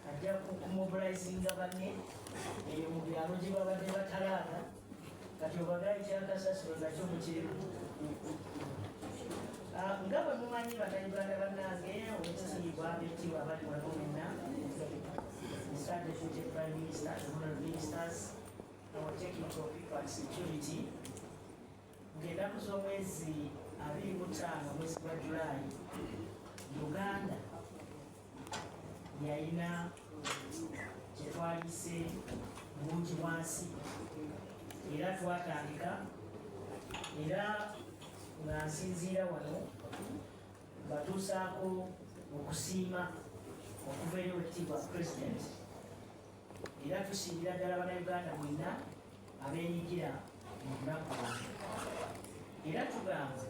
ajja kumobilizinga banne eyo mu byalo gye babadde batalaaga kati obagala ekyakasasiro nakyo mukirimu ah, nga bwe mumanyi banauganda bannange owekitiibwa abekitiibwa abali wano wenna started with the prime minister and honorable ministers our technical people and security ng'enaku z'omwezi abiri mu ttaano omwezi gwa julaayi uganda yalina kyetwalise bungi bwansi era twatandika era nga nsinziira wano batuusaako okusiima okuva eri wekitiibwa pulezidenti era tusimbira ddala banauganda mwenna abenyigira mu lunaku era tugamba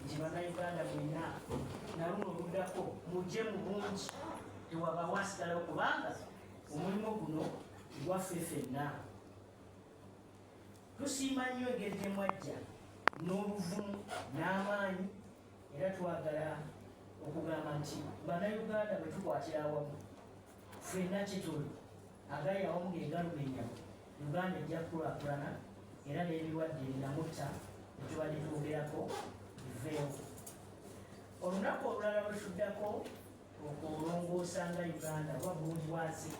nti banauganda mwenna naluno oluddako mujje mu bungi tewabawo asigalawo kubanga omulimu guno gwaffe fenna tusiima nnyo engeri gye mwajja n'obuvumu n'amaanyi era twagala okugamba nti banauganda bwe tukwatira awamu Ffenna kituli agali awamu ge galumenya Uganda ejja kukulaakulana era n'ebirwadde binamutta bye tubadde twogerako biveewo. Olunaku olulala lwe tuddako okulongoosa nga Uganda oba bulungi bwazi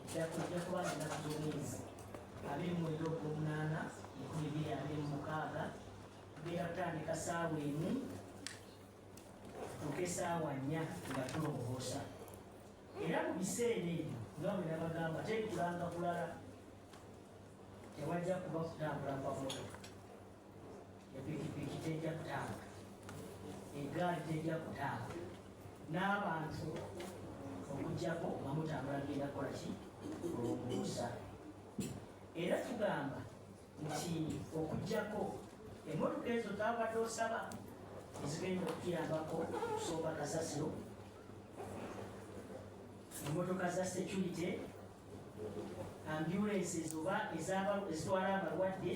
eddako ejja kuba nga ennaku z'omwezi abiri mu mwenda ogw'omunaana enkumi bbiri abiri mu mukaaga tugenda kutandika saawa emu tuke saawa nnya nga tulongoosa era mu biseera ebyo nga bwe nabagamba tekulanga kulala tewajja kuba kutambula kwa moto epikipiki tejja kutambula egaali tejja kutambula n'abantu okujjako nga mutambula genda kukola ki olwombuusa era tugamba nti okujjako emotoka ezo zabadde osaba ezigenda okuyambako okusomba kasasiro emotoka za security ambulances oba ezitwala abalwadde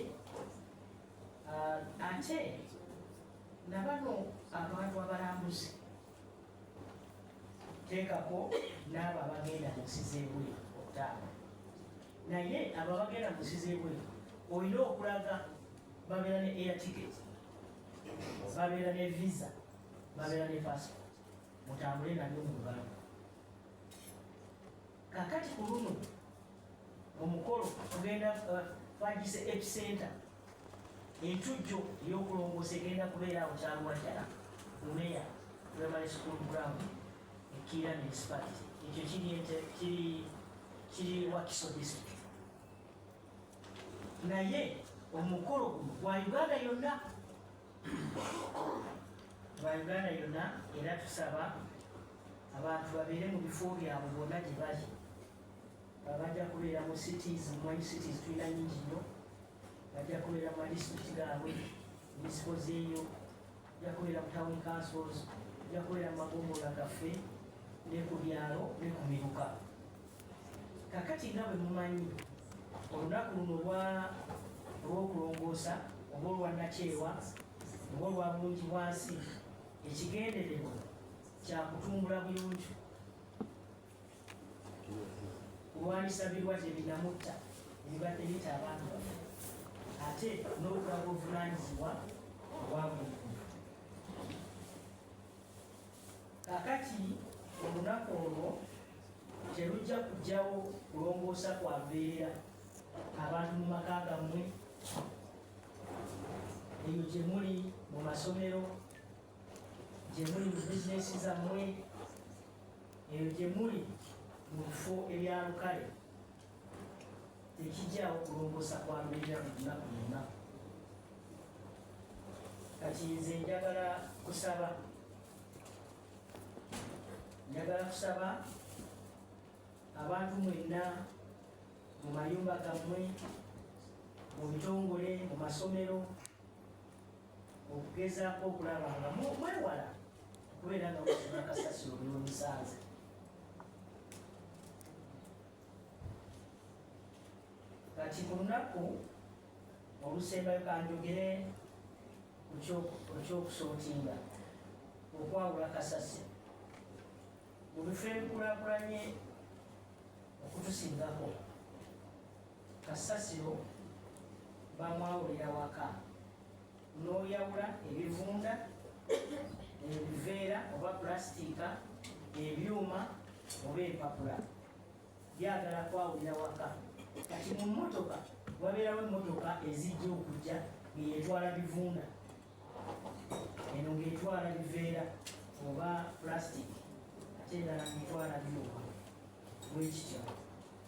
ah, ate nabano abantu abalambuzi teekako n'abo abagenda mu nsi z'ebuli okutaaba naye abo abagenda mu nsi z'ebweru olina okulaga babeera ne air ticket babeera ne visa babeera ne passport mutambule nabyo mu lubalama kakati ku luno omukolo tugenda uh, twagise epicenter entujjo ey'okulongoosa egenda kubeera awo kyaluwa ddala lumeya primary school ground Kira municipality ekyo kiri ente kiri kiri Wakiso district naye omukolo guno gwa Uganda yonna gwa Uganda yonna era tusaba abantu babeere mu bifo byabwe bonna gye bali bajja kubeera mu cities mumanyi cities tulina nyingi nnyo bajja kubeera mu madistrict gaabwe munisipo zeeyo Yakolera mu town councils, yakolera mu magombolola gaffe ne ku byalo ne ku miruka. Kakati nga bwe mumanyi olunaku luno olw'okulongoosa oba olwannakyewa oba olwa bulungi bwansi ekigendererwa kyakutumbula buyonjo kulwanyisa birwadde binamutta ebibadde bita abantu baffe ate n'okulaga obuvunanyizibwa obwa buli kakati olunaku olwo terujja kujjawo kulongoosa kwa mbeera abantu mu maka gammwe eyo gye muli mu masomero gye muli mu bizinesi zammwe eyo gye muli mu bifo ebya lukale tekijjawo kulongoosa kwalubirira mu lunaku lwonna kati nze njagala kusaba njagala kusaba abantu mwenna mu mayumba gammwe mu bitongole mu masomero okugezaako okulaba nga mwewala okubeera nga mufuna kasasiro byomusanze kati ku lunaku olusembayo kanjogere okyokusootinga okwawula kasasi mu bifo ebikulakulanye okutusingako Kasasiro bamwawulira waka n'oyawula ebivunda ebiveera oba pulasitiika ebyuma oba empapula byagala kwawulira waka kati mu mmotoka wabeerawo emmotoka ezijja okujja ngeyetwala bivunda eno ng'etwala biveera oba plastic ate endala ng'etwala byuma bwekityo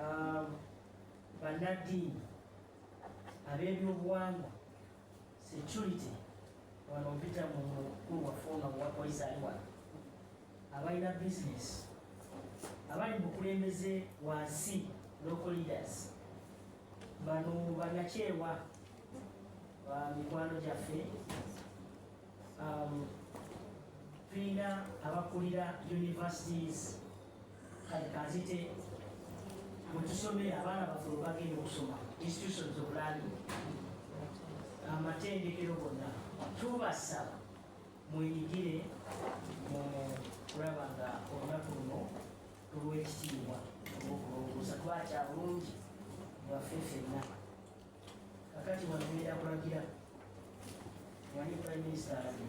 Um, bannaddiini ab'ebyobuwangwa security wano mpita mu mukulu waffe ono wa poliisi ali wano abalina bizinesi abali mu bukulembeze wansi local leaders bano bannakyewa ba mikwano gyaffe um, tulina abakulira universities kati kanzite mutusomere abaana baffe webagenda okusoma institutions of learning amatendekero gonna tubasaba mwenyigire mu kulaba nga olunaku luno olwekitiibwa olwokulongosa kuba kya bulungi bwaffe fenna kakati wano ngenda kulagira wani prime minister alabye